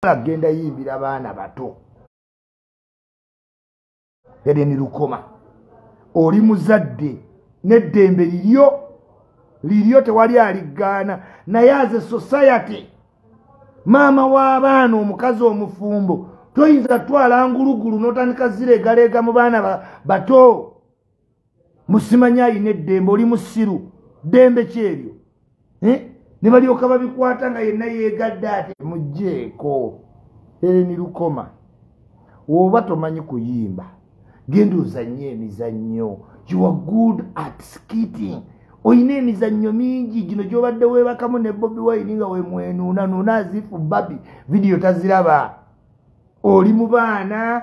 tayagala kugenda yimbira baana bato edeni lukoma oli muzadde n'eddembe liryo liryo tewali aliggaana naye aze society maama w'abaana omukazi omufumbo toyinza kutwala ngulugulu n'otandika zireegaleega mu baana bato musimanya ayina eddembe oli musiru ddembe kyeryo eh? ne balyoka babikwata nga yenna yegadde ati mugjeeko ereni lukoma oba tomanyi kuyimba genda ozannye emizannyo you are good at skitting olina emizannyo mingi gino gyobadde webakamu ne bobi wine nga wemwenuunanuuna azifu babi vidiyo taziraba oli mu baana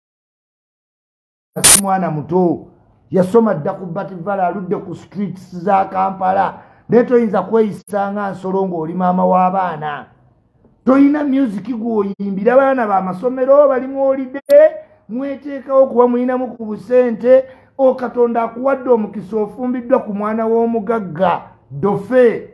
kati mwana muto yasoma dda ku bativala aludde ku streets za kampala naye toyinza kweyisa nga nsolo ng'oli maama w'abaana tolina musiki gw'oyimbira abaana bamasomero bali mwolide mweteekawo kuba mulinamu ku busente o katonda akuwadde omukisa ofumbiddwa ku mwana w'omugagga dofe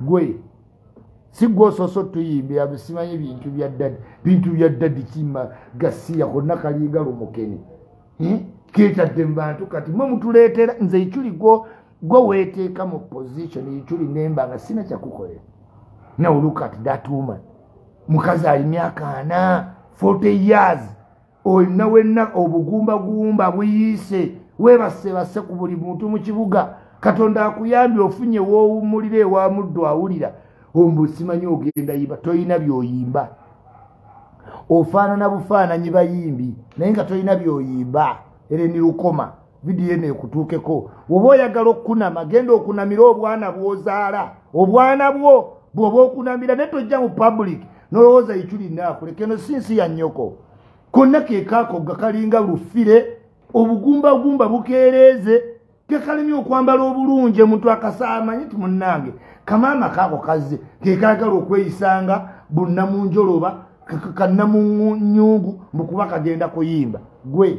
gwe sigwososo tuyimbira bisimanyi bintu bya dadi bintu bya dadi kima gasiya konna kalinga lumukeni hmm? ketadde mu bantu kati mwe mutuleetera nze ikyuli gwo gwe weeteeka mu position ikyuli nemba nga sina kyakukolera now look at that woman mukazi ali myaka ana 40 years olina wenna obugumbagumba buyiise weebasebase ku buli muntu mu kibuga katonda akuyambye ofunye woowummulira ewa muddu awulira ombu simanyi ogenda yimba tolina byoyimba ofaanana bufaananyi bayimbi naye nga tolina byoyimba ereni lukoma vidiyo eno ekutuukeko woba oyagala okukunama genda okunamira obwana bwozaala obwana bwo bwoba okunamira naye tojja mu public nolowooza iculinaakuleka eno si nsi ya nnyoko konna kekaakogga kalinga lufire obugumbagumba bukeereeze kekalemye okwambala obulungi omuntu akasaamanyi ti munnange kamaama kaako kazze kekaagala okweyisanga bunnamunjoloba kannamunyungu mbukuba kagenda kuyimba gwe